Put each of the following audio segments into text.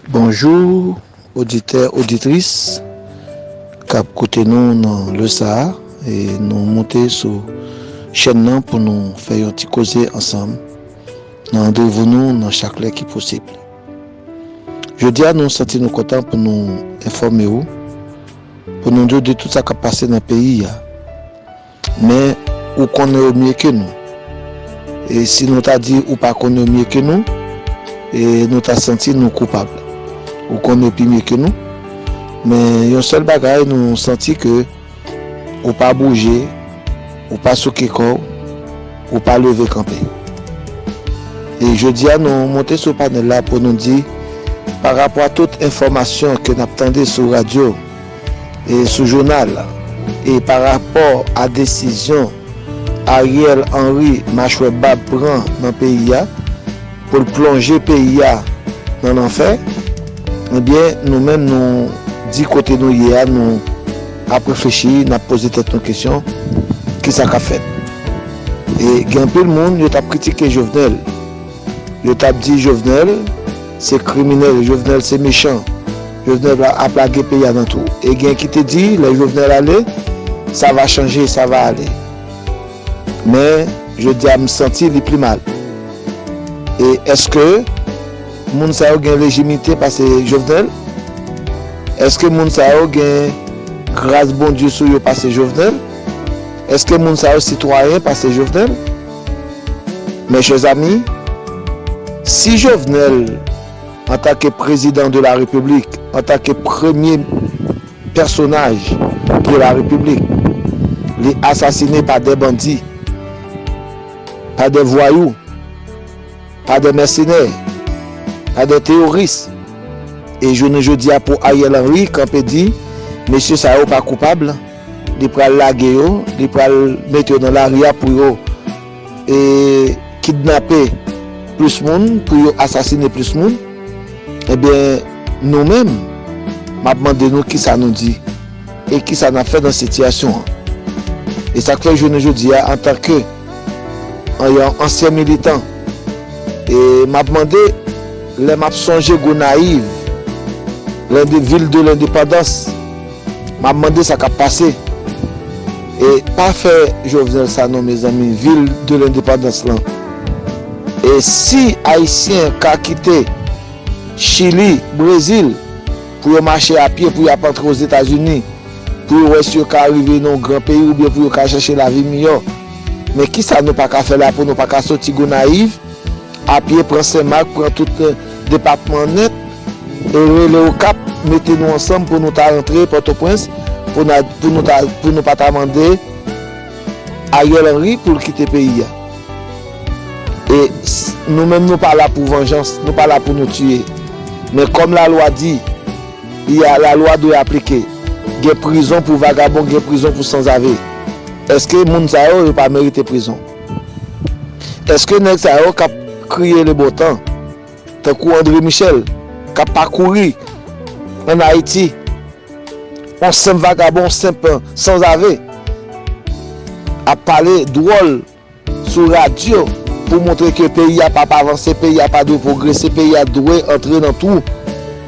Bonjou oditè oditris kap koute nou nan lè sa e nou moute sou chèn nan pou nou fè yon ti koze ansanm nan randevou nou nan chak lè ki posib jodi a nou santi nou kontan pou nou enfòme ou pou nou diw de tout sa kap pase nan peyi a. Men, ou konnen yo mye ke nou. E si nou ta di ou pa konnen yo mye ke nou, e nou ta santi nou koupab. Ou konnen yo pi mye ke nou, men yon sèl bagay nou santi ke ou pa bouje, ou pa souke kò w, ou pa leve kanpe. E jodi a nou monte sou panèl la pou nou di, pa rapò a tout enfòmasyon ke n ap tande sou radyo, Sou jounal e pa rapò a desizyon Ariel Henry machwè bab pran nan peyi a pou l plonje peyi a nan lanfè ebyen nou menm nou di kote nou ye a nou ap reflechi n ap poze tèt nou kesyon kisa k ap fèt e gen anpil moun yo t ap kritike Jovenel yo t ap di Jovenel se kriminèl Jovenel se mechan. Jovenel ap lage peyi a nan twou. E gen ki te di lè Jovenel ale, sa va chanje, sa va ale. Men, jodi a m santi li pli mal. E èske moun sa yo gen lejimite pase Jovenel? Èske moun sa yo gen gras Bondye sou yo pase Jovenel? Èske moun sa yo sitwayen pase Jovenel? Mes chers amis, si Jovenel. Antanke Prezidan de la Repiblik, antanke premye pèsonaj de la Repiblik, li asasine pa dè bandi, pa dè vwayou, pa dè mèsenè, pa dè teyoris. E jounen jodi a pou Ariel Henry kanpe di mesye sa yo pa koupab, li pral lage yo, li pral mete yo nan lari a pou yo. e kidnape plis moun, pou yo asasine plis moun, ebyen nou menm map mande nou kisa nou di e kisa nap fè nan sitiyasyon an. E sak fè jounen jodi a antan ke yon ansyen militan e map mande lè map sonje Gonayiv, lè de vil de lendepandans, Map mande sa kap pase. E pa fè jovenel sa non mezanmi vil de lendepandans lan e si ayisyen ka kite chili brezil pou yo mache a pye pou yap antre ozetazini pou yo wè si yo ka arive nan yon gran peyi oubyen pou yo ka chache lavi miyò men kisa nou paka fè la pou nou paka soti gonayiv A pye pran Sen Mak pran tout depatman nèt e rele Okap mete nou ansanm pou nou ta rantre Pòtoprens pou na pou nou ta pou nou pa ta mande Ariel Henry pou l kite peyi a e nou menm nou pa la pou vanjans nou pa la pou nou tiye men kòm lalwa di li a lalwa dwe aplike gen prizon pou vagabon gen prizon pou sanzave èske moun sa yo yo pa merite prizon. Eske nèg sa yo kap kriye le bon tan tankou Andre Michel kap pa kouri an Haiti on senp vagabon on senp sanzave ap pale dwòl sou radyo pou montre ke peyi a pap avanse peyi a pa dwe pwogrese peyi a dwe antre nan twou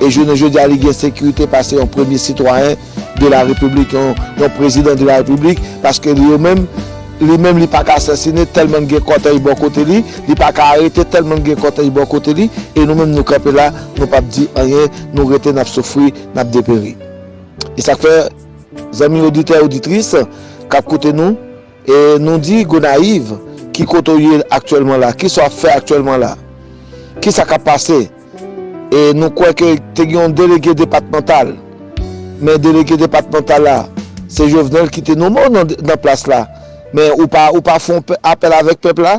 e jounen jodi a li gen sekirite pase yon premye sitwayen de la repiblik yon prezidan de la repiblik paske li yo menm li menm li paka asasine tèlman li gen kòtèy bò kote li li paka arete tèlman li gen kòtèy bò kote li e nou menm nou kanpe la nou pap di anyen nou rete nap soufri nap deperi e sak fè zanmi oditè oditris kap koute nou. E nou di Gonayiv, ki kote w ye aktyèlman la? Kisa w ap fè aktyèlman la? Kisa k ap pase? E nou kwè ke te gen yon delege depatmantal, men delege depatmantal la, se Jovenel ki te nome w nan plas la, men ou pa fon apèl avèk pèp la?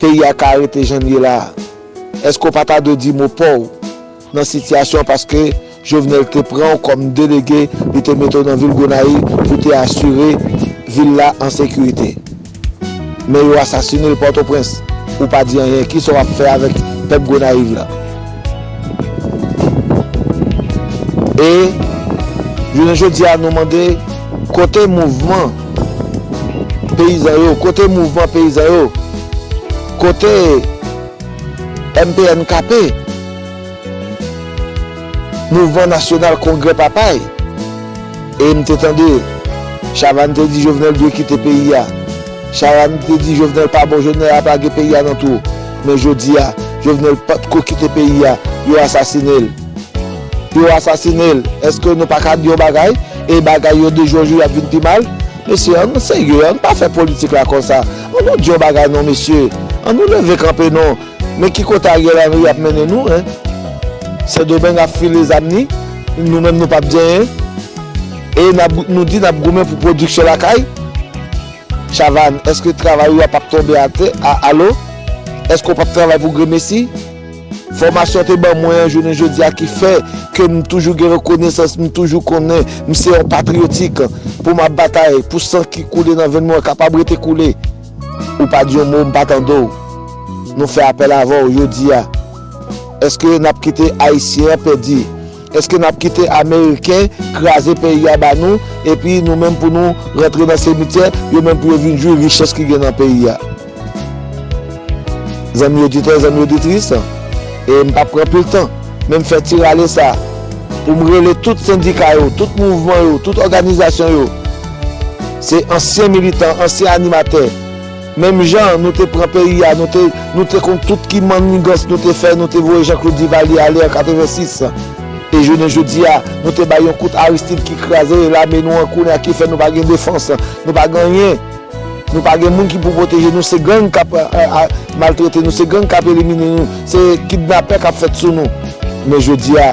Peyi a ka rete jan l ye la a? Eske w pa ta dwe di mo pa w nan sitiyasyon an paske Jovenel te pran w kòm delege li te mete w nan vil Gonayiv pou w te asire vil la an sekirite? Men yo asasine l Pòtoprens, ou pa di anyen. Kisa w ap fè avèk pèp Gonayiv la? E jounen jodi a nou mande kote mouvman peyizan yo, kote mouvman peyizan yo, kote MPNKP, Mouvman Nasyonal Kongrè Papay? E m te tande Chavanne te di Jovenel dwe kite peyi a. Sharam te di jovenel pa bon jovenel ap lage peyi a nan twou men jodia jovenel pat ko kite peyi a yo asasine l yo asasine l eske nou paka di yon bagay e bagay yo de jou an jou yap vin pi mal mesye an nou serye an nou pa fè politik la konsa an nou di yon bagay non mesye an nou leve kanpe non. Men ki kote Ariel Henry ap mennen nou hein. Sendomeng ap file zam ni, nou menm nou pap di anyen. E nou di nap goumen pou pwodiksyon lakay? Chavanne, eske travay ou a pap tonbe atè? Alo? Eske ou pap travay pou gremesi? Fòmasyon te ban mwen an jounen jodi a ki fè ke m toujou gen rekonesans, m toujou konnen m se yon patriyotik pou m ap batay pou san ki koule nan venn mwen kapab rete koule. Ou pa di yon mo m pa tande w. Nou fè apèl avè w jodi a. Eske n ap kite Ayisyen an pèdi? Eske n ap kite Ameriken kraze peyi a ba nou epi nou menm pou nou rantre nan semityè, yo menm pou yo vin jwi richès ki gen nan peyi a? Zanmi oditè, zanmi oditris, e m p ap pran pil tan, men m fè ti rale sa pou m rele tout sendika yo, tout mouvman yo, tout òganizasyon yo, Se ansyen militan, ansyen animatè. Menm jan nou te pran peyi a, nou te konn tout ki mannigans nou te fè, nou te voye Jean Claude Duvalier ale an 86. E jounen jodi a, nou te bay yon kout Aristide ki kraze lame nou an kounye a ki fè nou pa gen defans, nou pa gen anyen. Nou pa gen moun ki pou pwoteje nou, se gang k ap maltrete nou, se gang k ap elimine nou, se kidnapè k ap fèt sou nou. Men jodi a.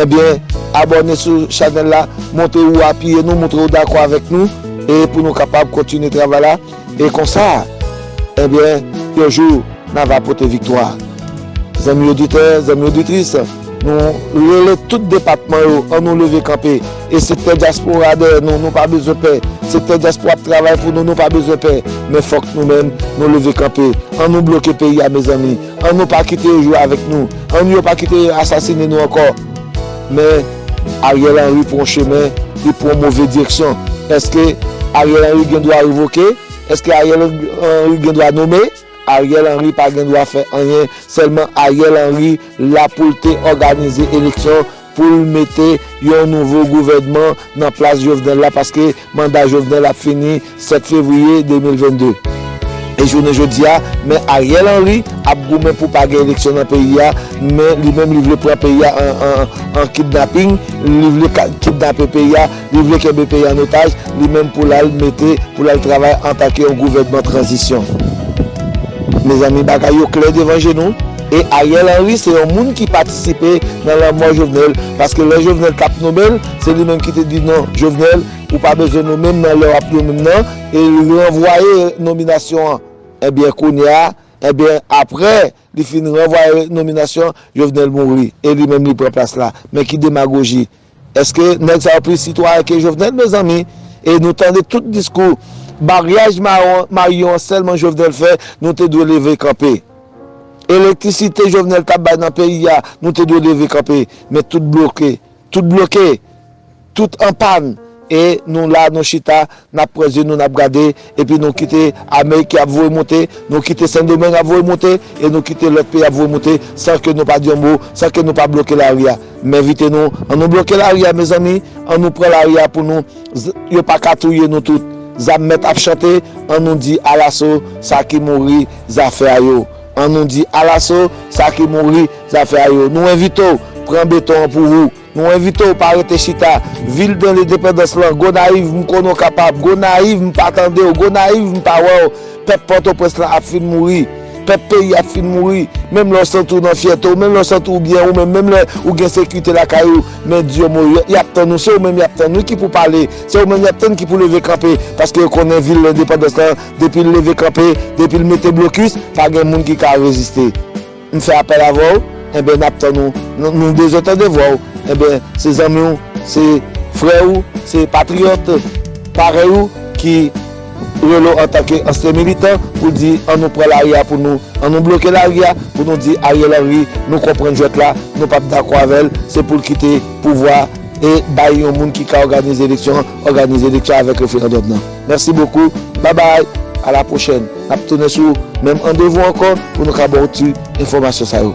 Ebyen abòne sou chanèl la montre ou apiye nou montre ou dakò avèk nou e pou nou kapab kontinye travay la e konsa ebyen yon jou na va pote viktwa zanmi oditè zanmi oditris nou rele tout depatman yo an nou leve kanpe e sektè dyaspora dèyè nou nou pa bezwen pè sektè dyaspora ap travay pou nou nou pa bezwen pè men fòk nou menm nou leve kanpe an nou bloke peyi a mezanmi. An nou pa kite yo jwe avèk nou, an nou yo pa kite yo asasine nou ankò. Men, Ariel Henry pran yon chemen, li pran yon move direksyon. Èske Ariel Henry gen dwa revoke? Èske Ariel Henry gen dwa nome? Ariel Henry pa gen dwa fè anyen, sèlman Ariel Henry la pou l te òganize eleksyon. pou l mete yon nouvo gouvènman nan plas Jovenel la paske manda Jovenel ap fini 7 fevriye 2022. E jounen jodi a, Me Ariel Henry ap goumen pou pa gen eleksyon nan peyi a, men li menm li vle pran peyi a an kidnaping, li vle kidnape peyi a. Li vle kenbe peyi an otaj, li menm pou l al mete, pou l al travay antake yon gouvènman tranzisyon. Mezanmi bagay yo klè devan je nou. E Ariel Henry se yon moun ki patisipe nan lanmò Jovenel, paske lè Jovenel t ap nome l, se li menm ki te di non Jovenel ou pa bezwen nome m nan lè w ap nome m nan, e l ranvwaye nominasyon an. Enbyen kounye a, enbyen aprè Li fin ranvwaye nominasyon an, Jovenel mouri e li menm li pran plas la. Men ki demagoji! Eske nèg sa yo plis sitwayen ke Jovenel mezanmi? E nou tande tout diskou maryaj maryon an sèlman Jovenel fè, nou te dwe leve kanpe. Elektrisite Jovenel tap bay nan peyi a, nou te dwe leve kanpe. Men tout bloke. Tout bloke, tout an pàn, e nou la nou chita, n ap pran zye nou n ap gade, epi nou kite ame ki ap voye moute, nou kite Sendomeng ap voye moute, e nou kite lòt peyi ap voye moute, san ke nou pa di yon mo, san ke nou pa bloke lari a. M envite nou, an nou bloke lari a mezanmi, an nou pran lari a pou nou, yo pa ka touye nou tout, zam mèt ap chante, an nou di alaso sa ki mouri zafè a yo. An nou di alaso sa ki mouri zafè a yo. Nou envite w pran beton an pou ou. Nou envite w pa rete chita. Vil de Lendepandans lan, Gonayiv, m konnen w kapab. Gonayiv, m pa tande w. Gonayiv, m pa wè w. Pèp Pòtoprens lan ap fin mouri. Pèp peyi a ap fin mouri. Menm lè w santi w nan fyète w, menm lè w santi w byen ou menm, menm lè ou gen sekite lakay ou, men di yo mo yo. Y ap tann ou. Se ou menm y ap tann wi ki pou pale. Se ou menm y ap tann ki pou leve kanpe. Paske yo konnen vil Lendepandans lan. Depi l leve kanpe, depi l mete blokis, pa gen moun ki ka reziste. M fè apèl avè w, enben n ap tann ou. Nou bezwen tande vwa w, enben se zanmi w, se frè ou, se patriyòt parèy ou ki rele w antanke ansyen militan pou di an nou pran lari a pou nou, an nou bloke lari a pou nou di Ariel Henry nou konprann jwèt la, nou p ap dakò avè l, se pou l kite pouvwa e bay yon moun ki ka òganize eleksyon. Òganize eleksyon avèk referandòm nan. Mèsi bokou. Bye bye. A la pwochèn. N ap tounen sou menm andevou ankò pou nou ka ba w ti enfòmasyon sa yo.